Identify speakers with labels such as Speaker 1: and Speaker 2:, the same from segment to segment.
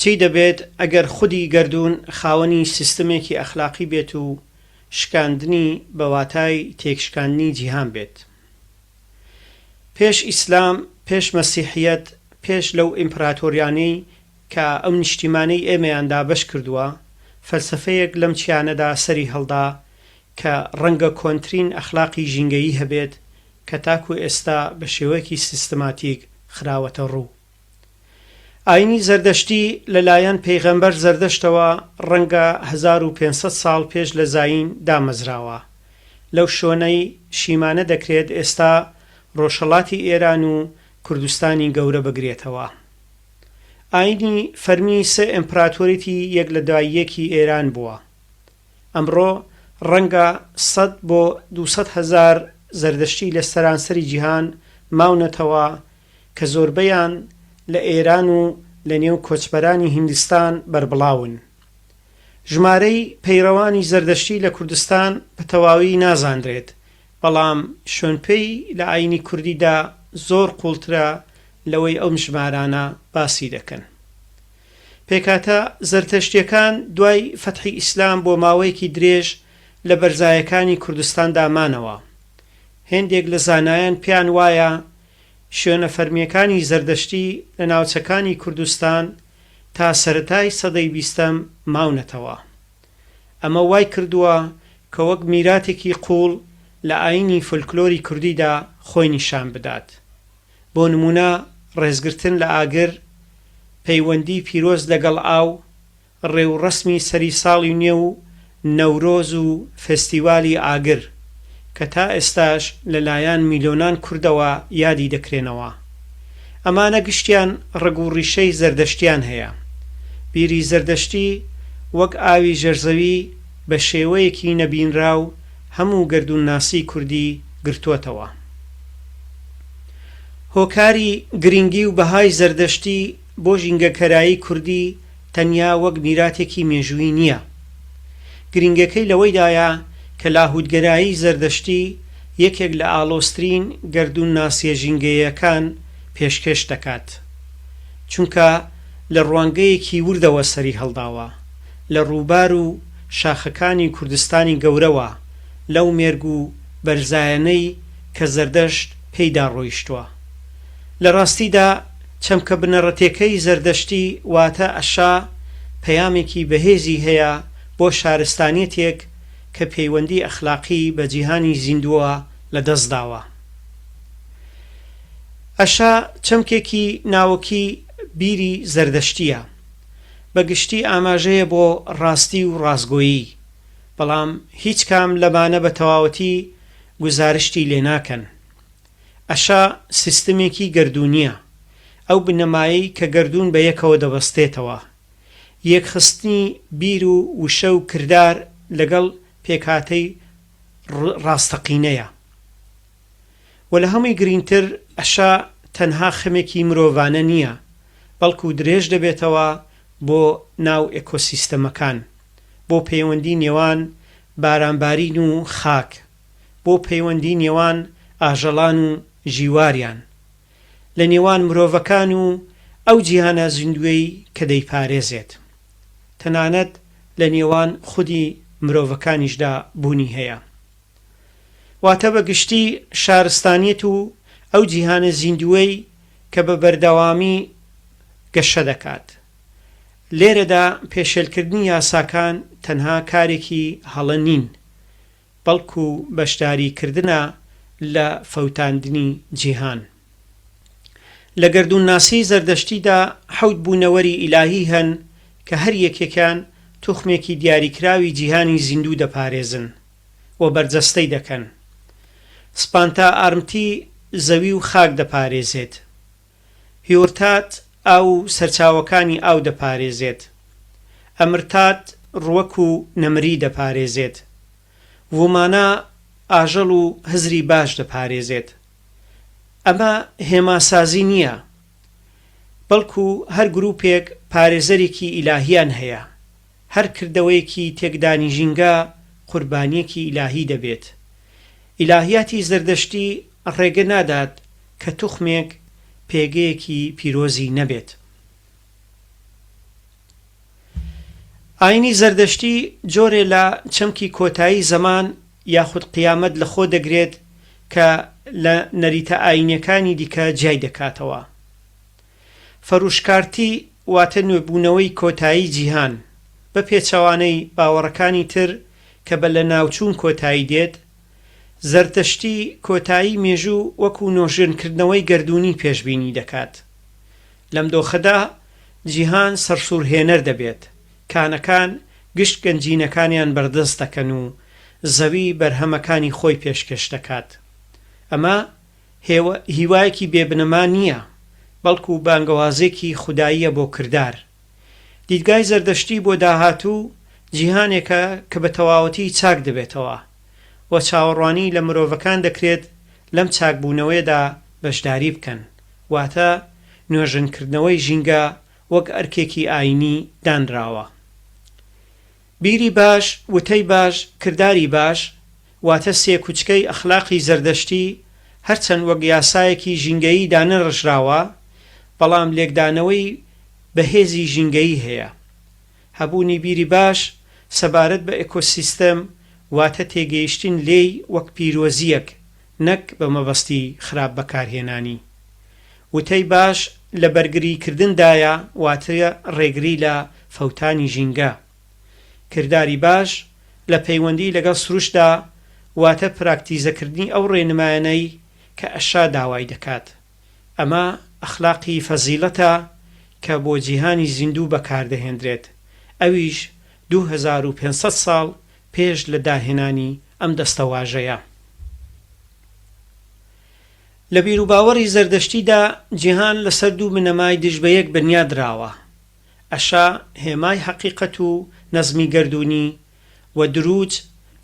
Speaker 1: چی دەبێت ئەگەر خودی گەردوون خاوەنی سیستمێکی ئەخلاقی بێت و شکاندنی بە واتای تێکشکاندنی جیهان بێت؟ پێش ئیسلام، پێش مەسیحیەت، پێش لەو ئیمپراتۆریانەی کە ئەو نیشتیمانەی ئێمەیان دابەش کردووە، فەلسەفەیەک لەم چیانەدا سەری هەڵدا کە ڕەنگە کۆنترین ئەخلاقی ژینگەیی هەبێت، کە تاکو ئێستا بە شێوەیەکی سیستماتیک خراوەتە ڕوو. ئاینی زەردەشتی لە لایەن پێغەمبەر زەردەشتەوە ڕەنگە هەزار و پێنج سەد ساڵ پێش لە زایین دامەزراوە، لەو شۆنەی شیمانە دەکرێت ئێستا ڕۆژهەڵاتی ئێران و کوردستانی گەورە بگرێتەوە. ئاینی فەرمی سێ ئێمپراتۆریتی یەک لە دوای یەکی ئێران بووە. ئەمڕۆ ڕەنگە سەد بۆ دوو سەد هەزار زەردەشتی لە سەرانسەری جیهان ماونەتەوە کە زۆربەیان لە ئێران و لە نێو کۆچبەرانی هیندستان بەربڵاون. ژمارەی پەیڕەوانی زەردەشتی لە کوردستان بە تەواوی نازانرێت، بەڵام شۆنپێی لە ئایینی کوردیدا زۆر قووڵترە لەوەی ئەم ژمارانە باسی دەکەن. پێکهاتە زەرتەشتیەکان دوای فەتحی ئیسلام بۆ ماوەیەکی درێژ لە بەرزایەکانی کوردستاندا مانەوە. هێندێک لە زانایان پێیان وایە شوێنە فەرمیەکانی زەردەشتی لە ناوچەکانی کوردستان تا سەرەتای سەدەی بیستەم ماونەتەوە. ئەمە وای کردووە کە وەک میراتێکی قووڵ لە ئاینی فۆلکلۆری کوردیدا خۆی نیشان بدات. بۆ نموونە ڕێزگرتن لە ئاگر، پەیوەندی پیرۆز لەگەڵ ئاو، ڕێوڕەسمی سەری ساڵی نوێ و نەورۆز و فێستیوالی ئاگر، کە تا ئێستاش لە لایان میلۆنان کوردەوە یادی دەکرێنەوە. ئەمانە گشتیان ڕەگ و ڕیشەی زەردەشتیان هەیە. بیری زەردەشتی وەک ئاوی ژێرزەوی بە شێوەیەکی نەبینراو هەموو گەردوونناسی کوردی گرتۆتەوە. هۆکاری گرنگی و بەهای زەردەشتی بۆ ژینگەکەرایی کوردی تەنیا وەک میراتێکی مێژوویی نییە. گرنگیەکەی لەوەیدایە کە لاهوتگەرایی زەردەشتی یەکێک لە ئاڵۆزترین گەردوونناسیە ژینگەیەکان پێشکێش دەکات. چونکە لە ڕوانگەیەکی وردەوە سەری هەڵداوە لە ڕووبار و شاخەکانی کوردستانی گەورەوە لەو مێرگ و بەرزایەنەی کە زەردەشت پێیدا ڕۆیشتووە. لە ڕاستیدا چەمکە بنەڕەتیەکەی زەردەشتی واتە ئەشا پەیامێکی بەهێزی هەیە بۆ شارستانیەتێک کە پەیوەندی ئەخلاقی بە جیهانی زیندووە لەدەستداوە. ئەشا چەمکێکی ناوەکی بیری زەردەشتیە. بە گشتی ئاماژەیە بۆ ڕاستی و ڕاستگۆیی، بەڵام هیچ کام لەمانە بە تەواوەتی گوزارشتی لێ ناکەن. ئەشا سیستمێکی گەردوونییە، ئەو بنەمایەی کە گەردوون بە یەکەوە دەبەستێتەوە. یەکخستنی بیر و وشە و کردار لەگەڵ پێکهاتەی ڕاستەقینەیە. وە لە هەمووی گرینگتر ئەشا تەنها خەمێکی مرۆڤانە نییە، بەڵکو درێژ دەبێتەوە بۆ ناو ئێکۆسیستەمەکان، بۆ پەیوەندی نێوان بارانبارین و خاک، بۆ پەیوەندی نێوان ئاژەڵان و ژیواریان، لە نێوان مرۆڤەکان و ئەو جیهانە زیندووەی کە دەیپارێزێت. تەنانەت لە نێوان خودی مرۆڤەکانیشدا بوونی هەیە. واتە بە گشتی شارستانیەت و ئەو جیهانە زیندووەی کە بە بەردەوامی گەشە دەکات، لێرەدا پێشێلکردنی یاساکان تەنها کارێکی هەڵە نین، بەڵکو بەشداریکردنە لە فەوتاندنی جیهان. لە گەردوونناسیی زەردەشتیدا حەوت بوونەوەری ئیلاهی هەن کە هەر یەکێکیان توخمێکی دیاریکراوی جیهانی زیندوو دەپارێزن و بەرجەستەی دەکەن. سپانتا ئارمتی زەوی و خاک دەپارێزێت. هیۆرتات ئاو و سەرچاوەکانی ئاو دەپارێزێت. ئەمرتات ڕوەک و نەمری دەپارێزێت. ومانا ئاژەڵ و هزری باش دەپارێزێت. ئەمە هێماسازی نییە، بەڵکو هەر گروپێک پارێزەرێکی ئیلاهییان هەیە، هەر کردەوەیەکی تێکدانی ژینگە قوربانیەکی ئیلاهی دەبێت. ئیلاهیاتی زەردەشتی ڕێگە نادات کە توخمێک پێگەیەکی پیرۆزی نەبێت. ئاینی زەردەشتی جۆرێ لە چەمکی کۆتایی زەمان یاخود قیامەت لە خۆ دەگرێت کە لە نەریتە ئاینیەکانی دیکە جیای دەکاتەوە. فروشکارتی واتە نوێبوونەوەی کۆتایی جیهان، بە پێچەوانەی باوەڕەکانی تر کە بە لەناوچوون کۆتایی دێت، زەردەشتی کۆتایی مێژوو وەکوو نۆژەنکردنەوەی گەردوونی پێشبینی دەکات. لەم دۆخەدا جیهان سەرسوورهێنەر دەبێت، کانەکان گشت گەنجینەکانیان بەردەست دەکەن و زەوی بەرهەمەکانی خۆی پێشکێش دەکات. ئەمە. هێوا، هیوایەکی بێ بنەما نییە، بەڵکو بانگەوازێکی خوداییە بۆ کردار. دیدگای زەردەشتی بۆ داهاتوو جیهانێکە کە بە تەواوەتی چاک دەبێتەوە و چاوەڕوانی لە مرۆڤەکان دەکرێت لەم چاکبوونەوەیەدا بەشداری بکەن، واتە نۆژەنکردنەوەی ژینگە وەک ئەرکێکی ئایینی دانراوە. بیری باش، وتەی باش، کرداری باش، واتە سێ کوچکەی ئەخلاقی زەردەشتی، هەرچەند وەک یاسایەکی ژینگەیی دانەنڕشراوە، بەڵام لێکدانەوەی بەهێزی ژینگەیی هەیە. هەبوونی بیری باش سەبارەت بە ئێکۆسیستەم، واتە تێگەیشتن لێی وەک پیرۆزییەک، نەک بە مەبەستی خراپ بەکارهێنانی. وتەی باش لە بەرگریکردندایە واتە ڕێگری لە فەوتانی ژینگە. کرداری باش لە پەیوەندی لەگەڵ سروشتدا واتە پراکتیزەکردنی ئەو ڕێنمایانەی کە ئەشا داوای دەکات. ئەمە ئەخلاقی فەزیڵەتە کە بۆ جیهانی زیندوو بەکاردەهێندرێت، ئەویش دوو هەزار و پێنج سەد ساڵ پێش لە داهێنانی ئەم دەستەواژەیە. لە بیروباوەڕی زەردەشتیدا جیهان لەسەر دوو بنەمای دژ بە یەک بنیا دراوە، ئەشا، هێمای هەقیقەت و نەزمی گەردوونی، و، دروج،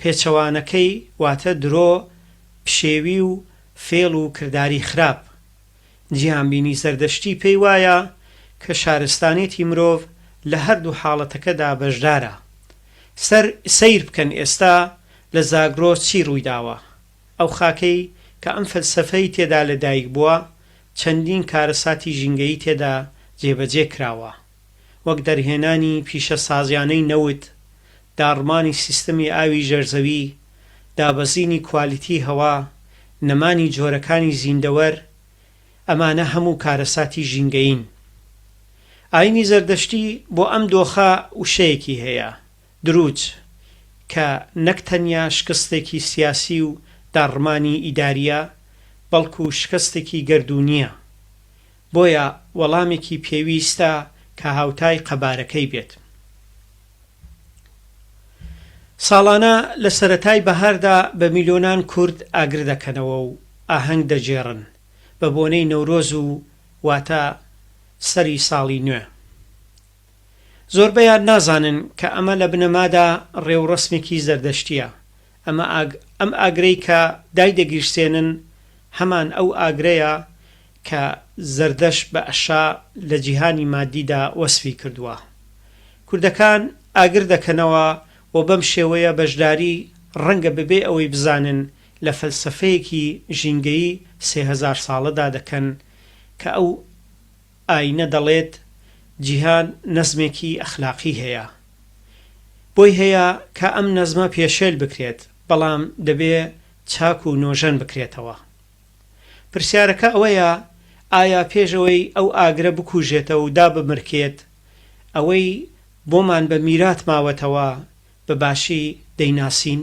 Speaker 1: پێچەوانەکەی، واتە درۆ، پشێوی و فێڵ و کرداری خراپ. جیهانبینی زەردەشتی پێی وایە کە شارستانێتی مرۆڤ لە هەردوو حاڵەتەکەدا بەشدارە. سەر سەیر بکەن ئێستا لە زاگرۆس چی ڕوویداوە. ئەو خاکەی کە ئەم فەلسەفەی تێدا لە دایک بووە، چەندین کارەساتی ژینگەیی تێدا جێبەجێ کراوە. وەک دەرهێنانی پیشەسازیانەی نەوت، داڕمانی سیستەمی ئاوی ژێرزەوی، دابەزینی کوالیتی هەوا، نەمانی جۆرەکانی زیندەوەر، ئەمانە هەموو کارەساتی ژینگەیین. ئاینی زەردەشتی بۆ ئەم دۆخە وشەیەکی هەیە، دروج، کە نەک تەنیا شکستێکی سیاسی و داڕمانی ئیدارییە، بەڵکو شکستێکی گەردوونییە. بۆیە وەڵامێکی پێویستە کە هاوتای قەبارەکەی بێت. ساڵانە لە سەرەتای بەهاردا بە میلۆنان کورد ئاگر دەکەنەوە و ئاهەنگ دەگێڕن بە بۆنەی نەورۆز و واتە سەری ساڵی نوێ. زۆربەیان نازانن کە ئەمە لە بنەمادا ڕێوڕەسمێکی زەردەشتییە، ئەمە ئەم ئاگرەی کە دایدەگیرسێنن هەمان ئەو ئاگرەیە کە زەردەشت بە ئەشا لە جیهانی مادیدا وەسفی کردووە. کوردەکان ئاگر دەکەنەوە و بەم شێوەیە بەشداری ڕەنگە بەبێ ئەوەی بزانن لە فەلسەفەیەکی ژینگەیی سێ هەزار ساڵەدا دەکەن کە ئەو ئایینە دەڵێت جیهان نەزمێکی ئەخلاقی هەیە بۆی هەیە کە ئەم نەزمە پێشێل بکرێت بەڵام دەبێ چاک و نۆژەن بکرێتەوە. پرسیارەکە ئەوەیە ئایا پێش ئەوەی ئەو ئاگرە بکوژێتەوە و دابمرکێت ئەوەی بۆمان بە میرات ماوەتەوە بە باشی دەیناسین؟